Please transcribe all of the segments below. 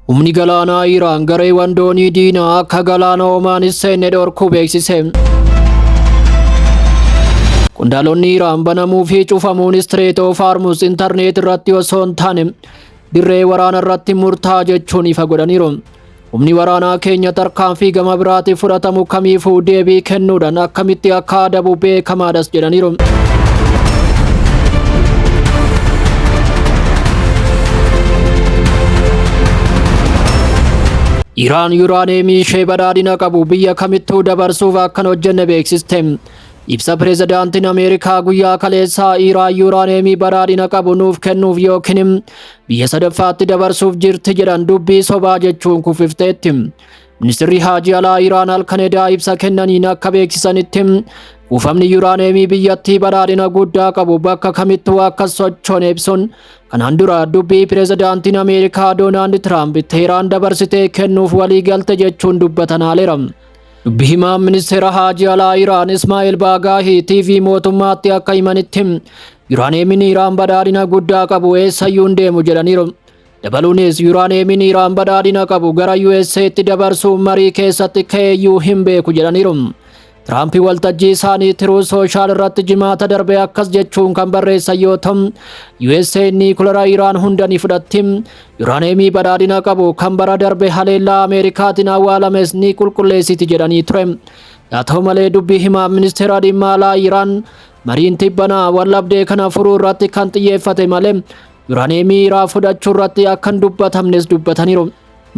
Humni galaanaa Iraan gareewwan doonii diinaa akka galaana Omaan hin seenne dhorkuu beeksise. Qondaalonni Iraan banamuu fi cufamuun Strait of Hormuz intarneet irratti osoo hin taane dirree waraana irratti murtaa jechuun ifa godhaniiru. Humni waraanaa keenya tarkaanfii gama biraatiif fudhatamu kamiifuu deebii kennuudhaan akkamitti akka adabu beekamaadhas jedhaniiru. Iraan yuraaneemii ishee badhaadhina qabu biyya kamittuu dabarsuuf akkan hojjenne beeksiste. Ibsa pireezidaantiin Ameerikaa guyyaa kaleessaa Iiraan yuuraaneemii badhaadhina qabu nuuf kennuuf yookiin biyya sadaffaatti dabarsuuf jirti jedhan dubbii sobaa jechuun kuffifteetti. Ministirri Haajii Alaa Iiraan halkan edaa ibsa kennaniin akka beeksisanitti kuufamni yuuraaneemii biyyattii badhaadhina guddaa qabu bakka kamittuu akka sochoone ibsuun kanaan dura dubbii pireezidaantiin Ameerikaa Doonaald Tiraamp Teeraan dabarsitee kennuuf waliigalte jechuun dubbatan haaleera. Dubbi himaan ministeera haajii alaa Iraan Ismaa'il Baagaahii TV mootummaatti akka himanitti Yuraaneemiin Iraan badhaadhina guddaa qabu eessayyuu hin deemu jedhaniiru. Dabaluunis Yuraaneemiin Iraan badhaadhina qabu gara USA'tti dabarsuun marii keessatti ka'eeyyuu hin beeku jedhaniiru. Tiraamp waltajjii isaanii tiruu sooshaal irratti jimaata darbe akkas jechuun kan barreessan yoo ta'u, USA niikulara Iraan hunda ni fudhatti. Yuraaneemii badhaadhina qabu kan bara darbe haleellaa Ameerikaatiin awwaalames ni qulqulleessiti jedhanii ture. Yaa ta'u malee dubbii himaa ministeera dhimma alaa Iraan mariin tibbanaa waldhabdee kana furuu irratti kan xiyyeeffate malee yuraaneemii irraa fudhachuu irratti akka hin dubbatamnes dubbataniiru.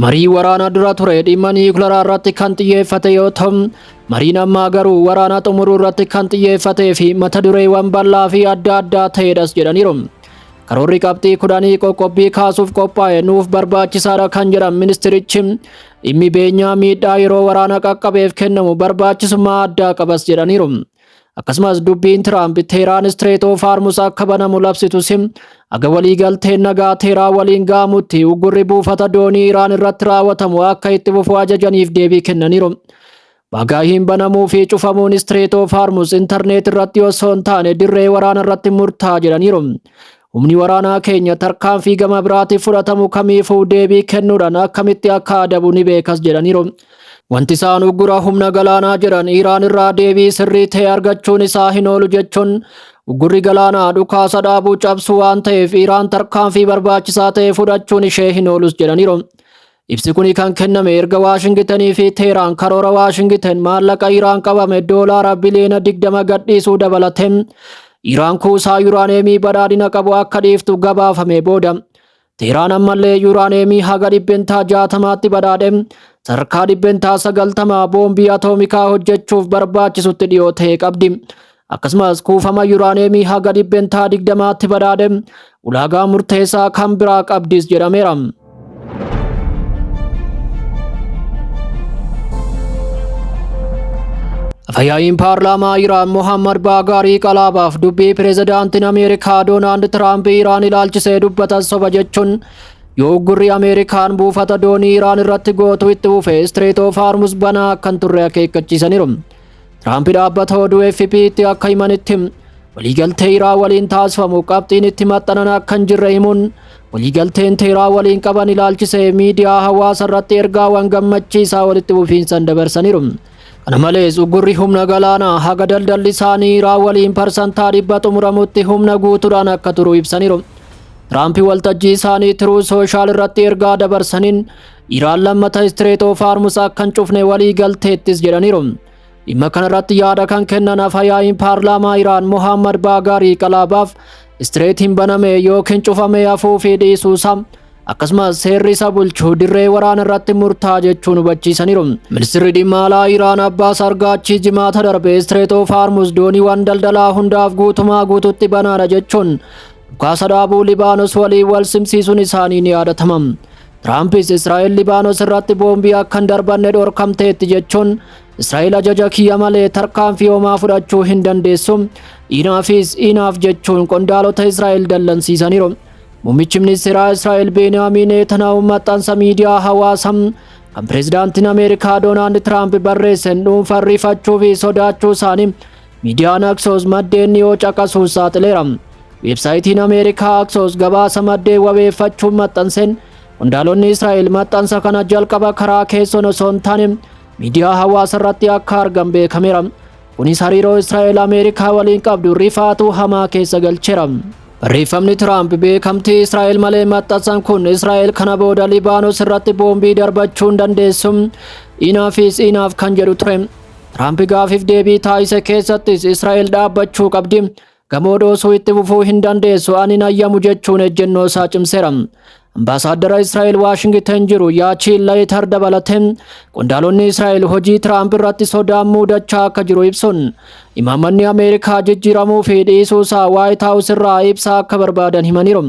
Marii waraana dura ture dhimma niwukilaraa irratti kan xiyyeeffate yoo ta'u, mariin ammaa garuu waraana xumuruu irratti kan xiyyeeffatee fi mata dureewwan bal'aa fi adda addaa ta'edhas jedhaniiru. Karoorri qabxii kudhanii qoqqobbii kaasuuf qophaa'e nuuf barbaachisaadha kan jedhan ministirichi dhimmi beenyaa miidhaa yeroo waraana qaqqabeef kennamu barbaachisummaa addaa qabas jedhaniiru. Akkasumas dubbiin Tiraamp Teeraan Istireet of Hormuuz akka banamu labsitus aga waliigalteen nagaa Teeraa waliin ga'amutti uggurri buufata doonii Iraan irratti raawwatamu akka itti fufu ajajaniif deebii kennaniiru. Bagaa hin banamuu fi cufamuun Strait of Hormuz intarneet irratti osoo hin taane dirree waraana irratti murtaa jedhaniiru. Humni waraanaa keenya tarkaanfii gama biraatiif fudhatamu kamiifuu deebii kennuudhaan akkamitti akka adabu ni beekas jedhaniiru. Wanti isaan uggura humna galaanaa jedhan Iraan irraa deebii sirrii ta'e argachuun isaa hin oolu jechuun uggurri galaanaa dhukaasa dhaabuu cabsu waan ta'eef Iraan tarkaanfii barbaachisaa ta'e fudhachuun ishee hin oolus jedhaniiru. Ibsi kuni kan kenname erga Waashingitanii fi Teeraan karoora Waashingitan maallaqa Iraan qabame doolaara biliyoona 20 gadhiisuu dabalate Iraan kuusaa yuraaneemii badhaadhina qabu akka dhiiftu gabaafame booda. Teeraan ammallee yuraaneemii haga dhibbentaa 60tti badhaadhe sadarkaa dhibbentaa 90 boombii atoomikaa hojjechuuf barbaachisutti dhiyoo ta'e qabdi. akkasumas kuufama yuraaneemii haga dhibbentaa digdamaatti badhaadhe ulaagaa murteessaa kan biraa qabdis jedhameera. Afayaa'iin paarlaamaa Iraan Mohammad Baagaarii Qalaabaaf dubbii pireezidaantiin Ameerikaa Doonaald Tiraamp Iraan ilaalchisee dubbatan soba jechuun yoo uggurri Ameerikaan buufata doonii Iraan irratti gootu itti fufe Istireet oof Haarmus banaa kan turre akeekkachiisaniiru. Tiraamp dhaabbata oduu AFP'tti akka himanitti waliigaltee Iraa waliin taasifamu qabxiin itti maxxanan akka hin jirre himuun waliigalteen Teeraa waliin qaban ilaalchisee miidiyaa hawaasa irratti ergaawwan gammachiisaa walitti fufiinsan dabarsaniiru. Kana malees uggurri humna galaanaa haga daldalli isaanii Iraa waliin parsantaa dhibba xumuramutti humna guutuudhaan akka turu ibsaniiru. Tiraamp waltajjii isaanii Tiruu Sooshaal irratti ergaa dabarsaniin Iraan lammata Strait of Hormuz akka hin cufne walii galteettis jedhaniiru. Dhimma kanarratti yaada kan kennan afayaa'iin paarlaamaa Iraan Mohammad Baagaarii Qalaabaaf Strait hin baname yookiin cufamee hafuu fi dhiisuu isaa akkasumas seerri isa bulchu dirree waraana irratti murtaa jechuun hubachiisaniiru. Ministirri dhimma alaa Iraan Abbaas Argaachii jimaata darbe Strait of Hormuz dooniiwwan daldalaa hundaaf guutumaa guututti banaadha jechuun dhukaasa dhaabuu Libaanos waliin wal simsiisuun isaanii ni yaadatama. Tiraampis Israa'el Libaanos irratti boombii akka hin darbanne dhorkamteetti jechuun Israa'el ajaja kiyya malee tarkaanfii homaa fudhachuu hin dandeessu. Inaafis inaaf jechuun qondaalota Israa'el dallansiisaniiru. Muummichi ministeeraa Israa'el Beeniyaamiin Neetanaahu maxxansa miidiyaa hawaasaa kan pireezidaantiin Ameerikaa Doonaald Tiraamp barreessen dhuunfaan rifachuu fi sodaachuu isaanii Miidiyaan Aksoos maddeen dhiyoo caqasuun saaxileera. Weebsaayitiin Ameerikaa Aksoos gabaasa maddeen wabeeffachuun maxxanseen qondaalonni Israa'el maxxansa kana jalqaba karaa keessoon osoo hin taane miidiyaa hawaasa irratti akka argan beekameera. Kunis hariiroo Israa'el Ameerikaa waliin qabdu rifaatuu hamaa keessa galcheera. Barreeffamni Tiraamp beekamtii Israa'el malee maxxansan kun Israa'el kana booda Libaanos irratti boombii darbachuun dandeessu inaafis inaaf kan jedhu ture. Tiraamp gaafiif deebii taasise keessattis Israa'el dhaabbachuu qabdi. Gamoo dhoosuu itti fufuu hin dandeessu ani hin hayyamu jechuun ejjennoo isaa cimseera. Ambaasaaddara Israa'el Waashingiten jiru Yaachiin Layitar dabalatee qondaalonni Israa'el hojii Tiraamp irratti sodaan muudachaa akka jiru ibsuun imaammanni Ameerikaa jijjiiramuu fi dhiisuu isaa Waayit Haawus irraa ibsaa akka barbaadan himaniiru.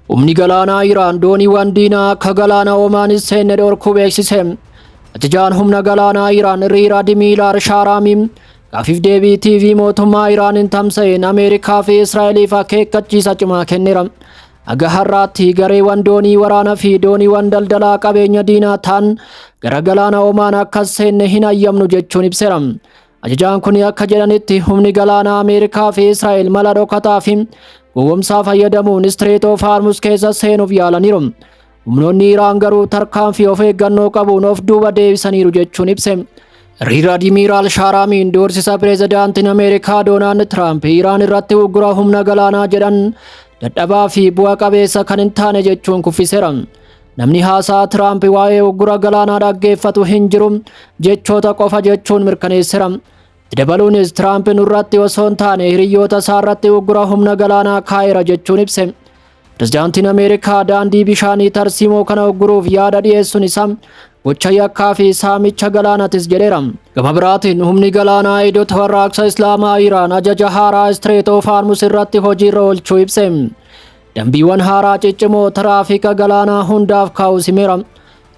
Humni galaanaa Iraan dooniiwwan diinaa akka galaana Omaan hin seenne dhorkuu beeksise. Ajajaan humna galaanaa Iraan Riir Adimiilaar Shaaraamii gaafiif deebii TV mootummaa Iraaniin tamsa'een Ameerikaa fi Israa'eliif akeekkachiisa cimaa kenneera. Haga har'aatti gareewwan doonii waraanaa fi dooniiwwan daldalaa qabeenya diinaa ta'an gara galaana Omaan akka hin seenne hin hayyamnu jechuun ibseera. Ajajaan kun akka jedhanitti humni galaanaa Ameerikaa fi Israa'el mala dhokataa fi gowwomsaa fayyadamuun Istireet of Haarmus keessa seenuuf yaalaniiru. Humnoonni Iraan garuu tarkaanfii of eeggannoo qabuun of duuba deebisaniiru jechuun ibse. Riir Admiiraal Shaaraamiin doorsisa pireezidaantiin Ameerikaa Doonaald Tiraamp Iraan irratti uggura humna galaanaa jedhan dadhabaa fi bu'a qabeessa kan hin taane jechuun kuffiseera. Namni haasaa Tiraamp waa'ee uggura galaanaa dhaggeeffatu hin jiru jechoota qofa jechuun mirkaneessera. Itti dabaluunis Tiraamp nurratti osoo hin taane hiriyyoota isaarratti uggura humna galaanaa kaa'eera jechuun ibse. Pirezidaantiin Ameerikaa daandii bishaanii tarsiimoo kana ugguruuf yaada dhiyeessuun isaa gocha yakkaa fi saamicha galaanatis jedheera. Gama biraatiin humni galaanaa Idut Warraaqsa Islaamaa Iraan ajaja haaraa Strait of Hormuz irratti hojiirra oolchuu ibse. Dambiiwwan haaraa ciccimoo tiraafika galaanaa hundaaf kaa'u simeera.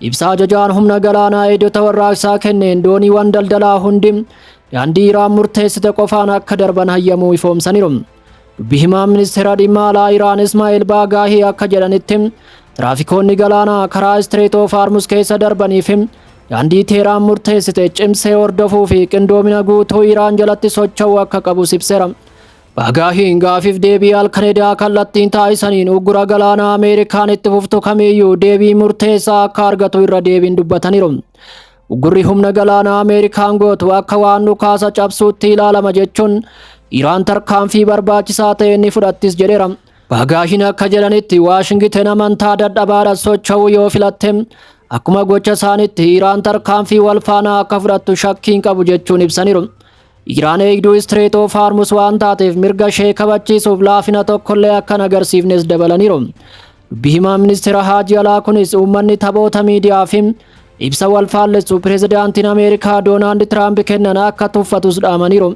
Ibsa ajajaan humna galaanaa eegdota warraaqsaa kenneen dooniiwwan daldalaa hundi daandii Iraan murteessite qofaan akka darban hayyamuu ifoomsaniiru. Dubbi himaan ministeera dhimma alaa Iraan Ismaa'eel Baagaahii akka jedhanitti tiraafikoonni galaanaa karaa Istireet oof Haarmus keessa darbanii fi daandii Teeraan murteessite cimsee hordofuu fi qindoomina guutuu Iraan jalatti socho'uu akka qabus ibseera. Bagaahiin gaafiif deebii Alkareedaa kallattiin taasisaniin uggura galaanaa Ameerikaan itti fuftu kamiyyuu deebii murteessaa akka argatu irra deebiin dubbataniiru. Uggurri humna galaanaa Ameerikaan gootu akka waan dhukaasa cabsuutti ilaalama jechuun Iraan tarkaanfii barbaachisaa ta'e ni fudhattis jedheera. Bagaahiin akka jedhanitti Waashingiten amantaa dadhabaadha socho'uu yoo filatte akkuma gocha isaanitti Iraan tarkaanfii wal faanaa akka fudhattu shakkiin qabu jechuun ibsaniiru. Iraan eegduu Istireet of Haarmus waan taateef mirga ishee kabachiisuuf laafina tokkollee akka hin agarsiifnes dabalaniiru. Dubbi himaa ministeera Haajii Alaa kunis uummanni taphoota miidiyaa fi ibsa wal faallessu pireezidaantiin Ameerikaa Doonaald Tiraamp kennan akka tuffatus dhaamaniiru.